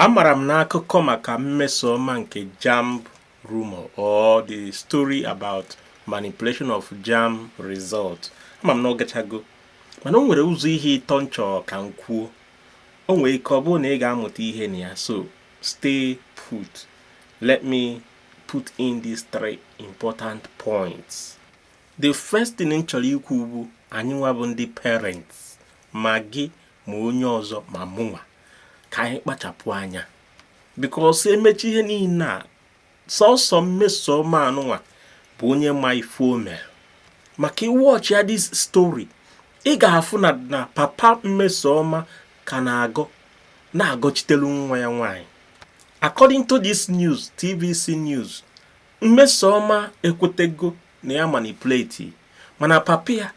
Amara m na akụkọ maka Mmesoma nke JAMB rumor or the story about manipulation of JAMB result ama m na ọ gachago mana o nwere ụzọ ihe ịtọ m chọọ ka m kwuo o nwere ike ọ bụrụ na ị ga-amụta ihe na ya so stay put let me put in these three important points the first thing m chọrọ ikwu bụ anyị nwa bụ ndị parents ma gị ma onye ọzọ ma mụnwa ka anyị kpachapụ anya because e mechaa ihe niile a sọsọ Mmesoma anụnwa bụ onye ma ife o mere maka ị watchịa this story ị ga-afụ na na papa Mmesoma ka na-agọ na-agọchitelu nwa ya nwaanyị according to this news tvc news Mmesoma ekwetego na ya manipulate mana papa ya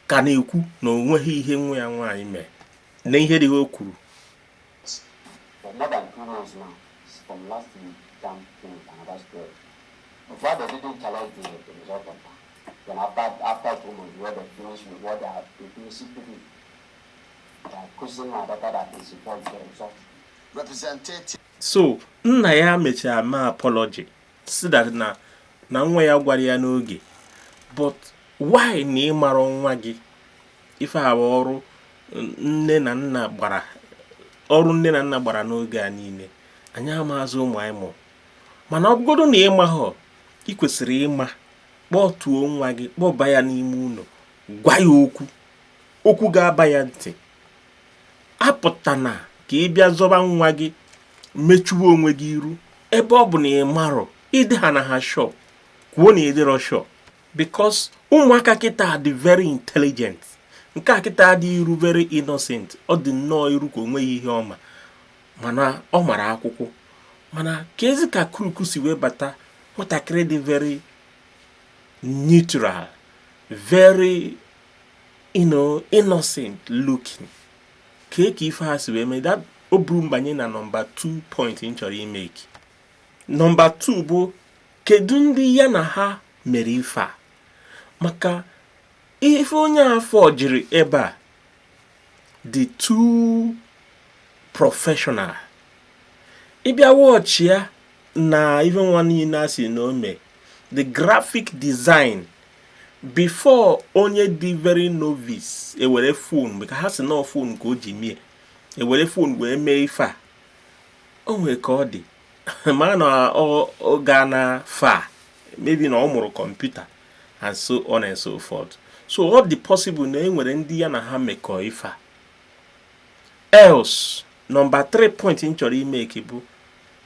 ka na-ekwu na o nweghị ihe nwa ya nwaanyị mee na ihe dị o kwuru so nna ya mechara mee apology sị that na nwa ya agwarọ ya n'oge but why na ị marọ nwa gị ife a bụ ọrụ nne na nna gbara n'oge a niile anyị amaazị ụmụ anyị mụrụ mana ọ bụgodu na ị mahọ ị kwesịrị ịma kpọtuo nwa gị kpọba ya n'ime ụlọ gwa ya okwu okwu ga-aba ya ntị apụtana ka ị bịa zọba nwa gị mechuwe onwe gị iru ebe ọ bụ na ị marọ ị dị ha na ha sure kwuo na ị dịrọ sure because ụmụaka kịta dị very intelligent nke a kịta dị iru very innocent ọ dị nnọọ iru ka o nweghị ihe ọ ma mana ọ mara akwụkwọ mana keezi ka crook si wee bata nwatakịrị dị very neutral very you know innocent looking kee ka ife a si wee mee that o buru m banye na number 2 point m chọrọ imake number 2 bụ kedu ndị ya na ha mere ife a maka ife onye a forgiri ebe a dị too professional ị bịa watchịa na ife nwa niile a sị na o me the graphic design before onye dị very novice ewere phone ka ha si na phone ka o ji mie ewere phone wee mee ife a o nwere ka ọ dị ma na ọ ga na fa maybe na ọ mụrụ kọmputa and so on and so forth so ọ dị possible na e nwere ndị ya na ha mekọọ ife a else number 3 point m chọrọ ị make bụ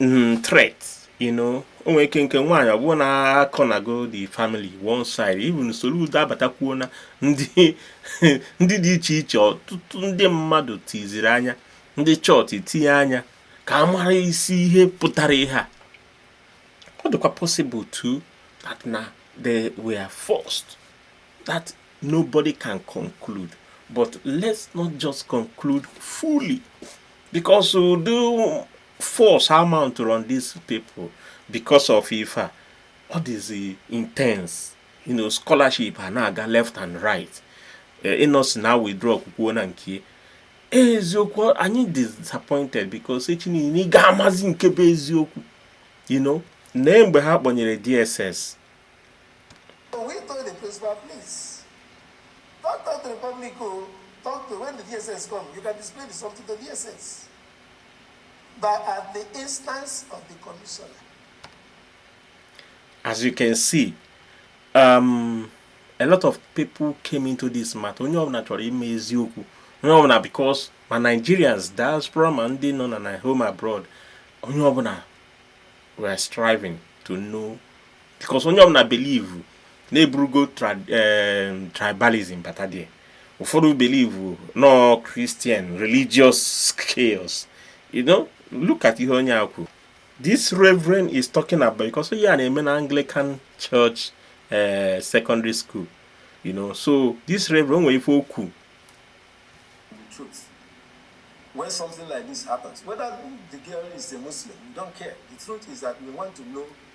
Mm, threat you know o nwere ike nke nwaanyị ọ bụrụ na a cornergo the family one side even Soludo abatakwuo na ndị ndị dị iche iche ọtụtụ ndị mmadụ tiziri anya ndị chọọchị tinye anya ka a mara isi ihe pụtara ihe a ọ dịkwa possible too that na they were forced that nobody can conclude but let's not just conclude fully because ụdị force ha mount on these people because of ife a ọ dịzi intense you know scholarship a na-aga left and right eh, Innoson a withdraw kwukwuo na nke eziokwu anyị disappointed because echi niile ị ga-amazi nke bụ eziokwu you know na mgbe ha kpọnyere DSS Don't talk to the public, oh. Talk to when the DSS come. You can display the something to DSS. But at the instance of the commissioner. As you can see, um, a lot of people came into this matter. Onye ọbụla chọrọ ịma eziokwu. Onye ọbụla because ma Nigerians, diaspora ma ndị nọ na home abroad, onye ọbụla were striving to know because onye ọbụla believe na-eburugo eh, tribalism bata dị ụfọdụ believe no Christian religious chaos you know look at ihe onye a kwuru this reverend is talking about because onye a na-eme na Anglican church eh, secondary school you know so this reverend nwere ife okwu when something like this happens, whether the girl is a Muslim, we don't care. The truth is that we want to know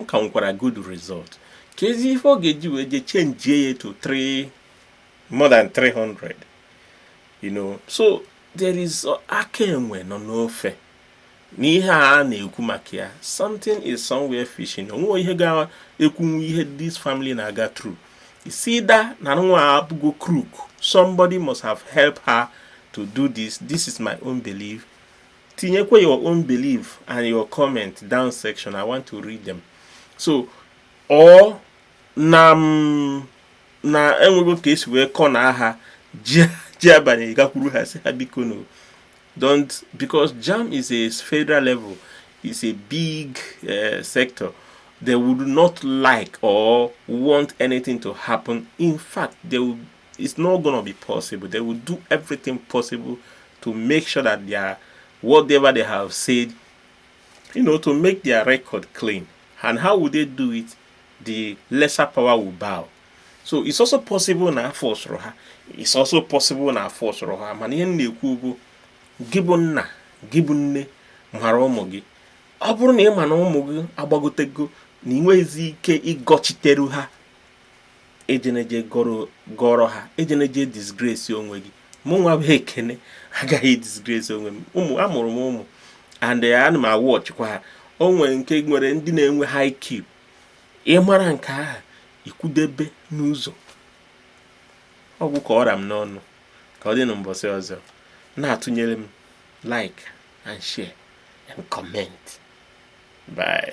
ọ ka nwekwara good result kezi ife ọ ga-eji wee je chenjie ya to 3 more than 300 you know so there is aka enwe nọ n'ofe n'ihe a na-ekwu maka ya something is somewhere fishing onwe ihe ga-ekwunwu ihe this family na-aga through it's either na nwa a bụgo crook somebody must have helped her to do this this is my own belief tinyekwa your own belief and your comment down section i want to read them so ọ na mm, na enwego ka esi wee kọ na aha ji abanye gakwuru ha si ha biko no don't because jam is a federal level is a big uh, sector they would not like or want anything to happen in fact they would It's not gonna be possible. They will do everything possible to make sure that they are whatever they have said, you know, to make their record clean. And how would they do it? The lesser power will bow. so it's also possible na a forcụrụ ha it's also possible na a forcụrụ ha mana ihe na-ekwu bụ gị bụ nna gị bụ nne mara ụmụ gị ọ bụrụ na ị ma na ụmụ gị agbagotego na ị nweghịzi ike ịgọchiteru ha ejene je gọrọ ha ejene je disgrace onwe gị mụ nwa bụ ekene agaghị disgrace onwe m ụmụ amụrụ m ụmụ and eh, ana m a-watchkwa ha o nwere nke nwere ndị na-enwe high IQ ị mara nke ahụ i kwudebe n'ụzọ ọ gwụ ka ọ ra m n'ọnụ ka ọ dị na mbọsị ọzọ na-atụnyere m like and share and comment bye